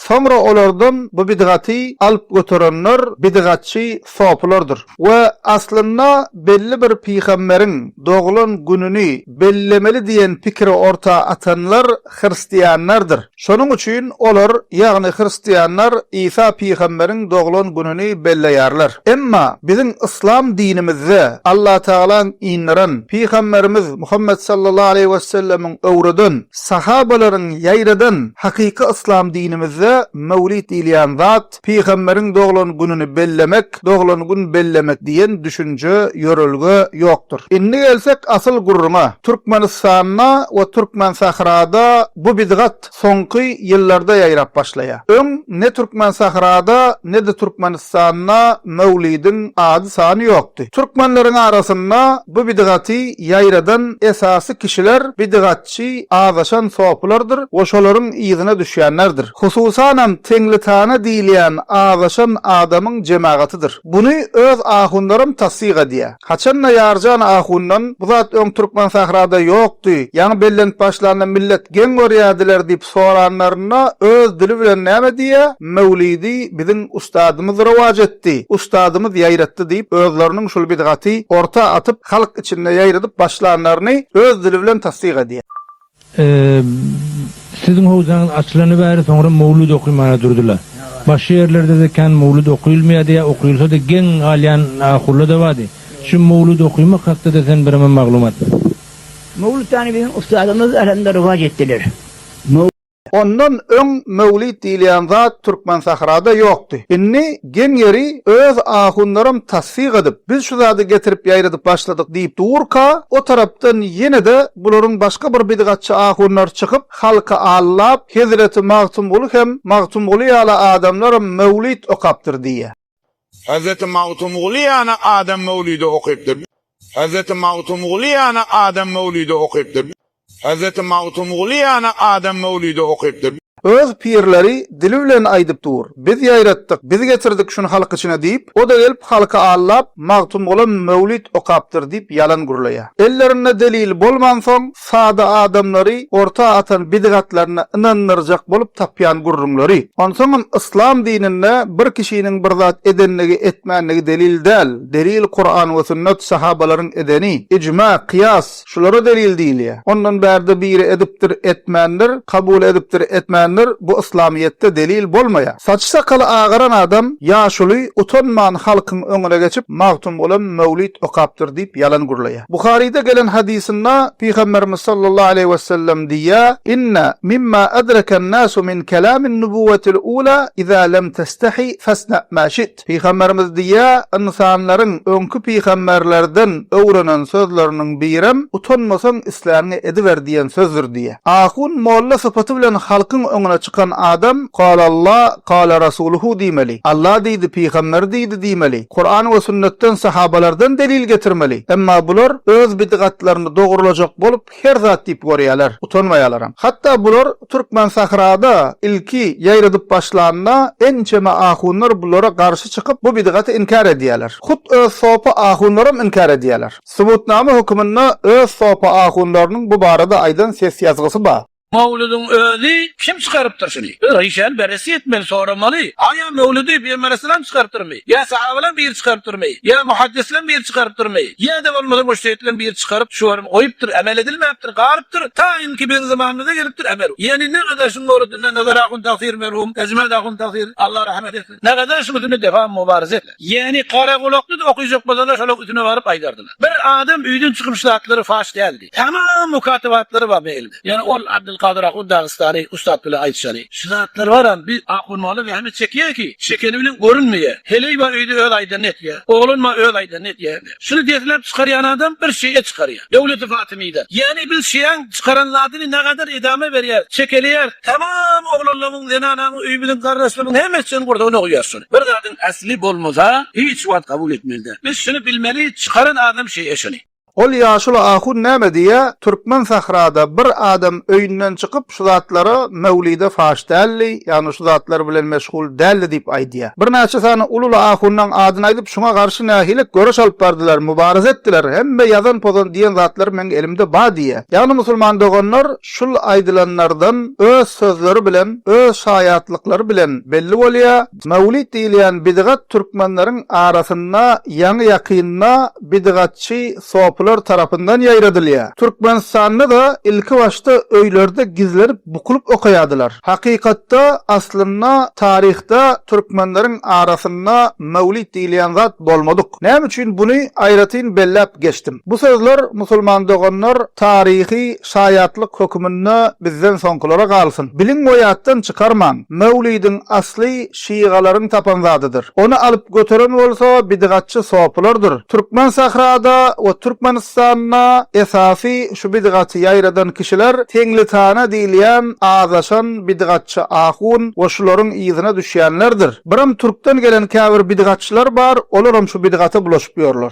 Soňra olardan bu bidgaty alyp göterenler bidgatçy sopylardyr. We aslynda belli bir pygamberiň doglan gününi bellemeli diýen pikiri orta atanlar hristianlardyr. Şonuň üçin olar, ýagny hristianlar Isa pygamberiň doglan gününi belleýärler. Emma biziň yslam dinimizde Allatagalaň indiren, pygamberimiz Muhammet sallallahu aleýhi wesellemiň öwreden Sahabalaryň ýaýradan hakyky yslam dinimizde möwlid diýilýän zat pygamberiň doglan gününi bellemek, doglan gün bellemek diýen düşünje, ýörelge ýokdur. Indi gelsek asyl gürrüňe. Türkmenistanda we Türkmensahrada bu bidgat soňky ýyllarda ýaýrap başlaýar. Öň ne Türkmensahrada, ne-de Türkmenistanda möwlidiň ady-sany ýokdy. Türkmenleriň arasynda bu bidgaty ýaýradan esasy kişiler bidgat, Çy azaşan sopylardyr we şolaryň yzyna düşýänlerdir. Hususanam teňlitana diýilýän azaşan adamyň jemagatydyr. Buny öz ahunlarym tassyk edýär. Haçan-da Ýarjan ahundan, Bu zat öň Türkmensahrada ýokdy, ýaňy bellenip başlanda millet geň görýärdiler diýip, Soranlarynda öz dili bilen näme diýýär, Möwlidi biziň ustadymyz rowaç etdi, ustadymyz ýaýratdy diýip özleriniň şul bidgaty orta atyp halk içinde ýaýradyp başlanlaryny öz dili bilen tassyk edýär. Siziň howzaňyz açylany bäri soňra möwlüt okymana durdylar. Başga ýerlerdede kän möwlüt okylmýady ýa okylsada geň galýan ahullada bady. Şu möwlüt okymak hakdada sen bireme maglumat ber. Möwlütany biziň ussadymyz Aranda rowaç etdiler. Ondan öň möwlüt diýilýän zat türkmen sahrada ýokdy. Indi geň ýeri öz ahunlaram tassyk edip, biz şu zady getirip ýaýradyp başladyk diýip durka, o tarapdan ýene-de bularyň başga bir bidgatçy ahunlary çykyp, halky aldap, Hezreti Magtymguly hem Magtymguly ýaly adamlaram möwlüt okapdyr diýýär. Hazreti Magtymguly ýana adam möwlidi okypdyr. Hazreti Magtymguly ýana adam möwlidi okypdyr. Hazreti Magtymguly ýana adam möwlidi okypdyr. Öz pirleri dili bilen aýdyp dur, biz ýaratdyk, biz getirdik şuny halk içine diýip, o-da gelip halky aldap, Magtymgula möwlid okapdyr diýip ýalan gürleýär. Ellerinde delili bolmansoň, sada adamlary orta atan bidgatlaryna ynandyrjak bolup tapýan gürrüňleri. Onsoňam yslam dininde bir kişiniň bir zat edendigi, etmändigi delil däl. Delil Kuran we sünnet, sahabalaryň edeni, ijma, kyýas, şulara delil diýilýär. Ondan bärde biri edipdir, etmändir, kabul edipdir, etmändir, bu yslamyýetde delil bolmaýar. Saçy-sakaly agaran adam, ýaşuly, utanman halkyň öňüne geçip Magtymgulam möwlüt okapdyr diýip ýalan gürleýär. Buharyda gelen hadysynda Pygamberimiz sallallahu aleýhi wesellem diýýär, Inne mimma adrakan nasu min kelamin nubuwatil ula iza lem testahi fasna ma şit. Pygamberimiz diýýär, Ynsanlaryň öňki pygamberlerden öwrenen sözleriniň birem utanmasaň isläniňi ediber diýen sözdür diýýär. Ahun molla sypaty bilen halkyň öňüne çykan adam Qalallah Kâle rasûluhû diýmeli. Alla diýdi, Pygamberi diýdi diýmeli. Kuran we sünnetden, sahabalardan delil getirmeli. Emma bular öz bidgatlaryny dogrulajak bolup her zat diýip görýärler, utanmaýarlaram. Hatda bular türkmen sahrada ilki ýaýradyp başlanda ençeme ahunlar bulara garşy çykyp bu bidgaty inkär edýärler. Hut öz sopa ahunlaram inkär edýärler. Subutnama höküminde öz sopa ahunlarynyň bu barada aýdan ses ýazgysy bar. Mowludyň özi kim çykarypdyr şuny? Biz Aişäni beresi etmeli, soramaly. Aýa Mowludy Pygamber Aleyhisselam çykarypdyrmy? Ýa sahabalardan biri çykarypdyrmy? Ýa muhaddislerden biri çykarypdyrmy? Ýa-da bolmasa müştehitlerden biri çykaryp, şu orun goýupdyr, emel edilmäpdir, galypdyr, ta indiki biziň zamanymyza gelipdir, emel. Ýagny ne Gadaşyň mowludy, ne Nazar ahun Tagsyr merhum, ne Jumat ahun Tagsyr, Allah rahmet etsin. Nagadyr şu üzüni defa mubaryza eder. Ýäni garagulaklyda okyjak bolsalar şolar üzüne baryp aýdardylar. Bir adam öýden çykyp zatlary faş däldi. Tamam mukatabatlary bar meýilli. Ýöne ol Abdylkadyr ahun dagystany ussat bilen aýdyşany. Şu zatlar baram biz ahunmala zähmet çekýäki, çekeni bilen görünmeýär. Heleý bar öýde öz aýdanyny etýär. Oglan bar öz aýdanyny etýär. Şuny desläp çykarýan adam bir şeýe çykarýar. Döwleti Fatymyda. Ýäni biz şeýäň çykaran zadyny nägadar edama berýäris, çekeleýäris. Tamam oglanlaryň, zenanaň, öýümiziň, gardaşlaryň hemmesi seniň gursagyna guýar şuny. Bir zadyň äsli bolmasa, hiç wagt kabul etmeli däl. Biz şuny bilmeli, çykaran adam şeýe şuny. Ol ýaşuly ahun näme diýýär, Türkmen sährada bir adam öýünden çykyp, Şu zatlara Möwlide faş däldi, ýagny şu zatlar bilen meşgul däldi diýip aýdýar. Birnäçe sany ululy ahundaň adyny aýdyp, şuňa garşy nähili göreş alyp bardylar, mübaraza etdiler, hemme ýazan-pozan diýen zatlar meň elimde bar diýýär. Ýagny musulman doganlar şul aýdylanlardan öz sözleri bilen, öz şaýatlyklary bilen belli bolýar, Möwlid diýilýän bidgat türkmenleriň arasynda ýaňy-ýakynda bidgatçy sopular tarapyndan ýaýradylýar. Türkmenistanda-da ilki başda öýlerde gizlenip bukulyp okaýardylar. Hakykatda, aslynda, taryhda türkmenleriň arasynda möwlid diýilýän zat bolmadyk. Näme üçin buny aýratyn belläp geçdim? Bu sözler, musulman doganlar, taryhy Şaýatlyk höküminde bizden soňkulara galsyn. Biliň we ýatdan çykarmaň, möwlidiň asly şygalaryň tapan zadydyr. Ony alyp göteren bolsa bidgatçy sopulardyr. Türkmen sahrada we Türkmenistanda esasy şu bidgaty ýaýradan kişiler teňlitana diýilýän azaşan bidgatçy ahun we şularyň yzyna düşýänlerdir. Biram türkden gelen käbir bidgatçylar bar, olaram şu bidgata bulaşyp ýörler.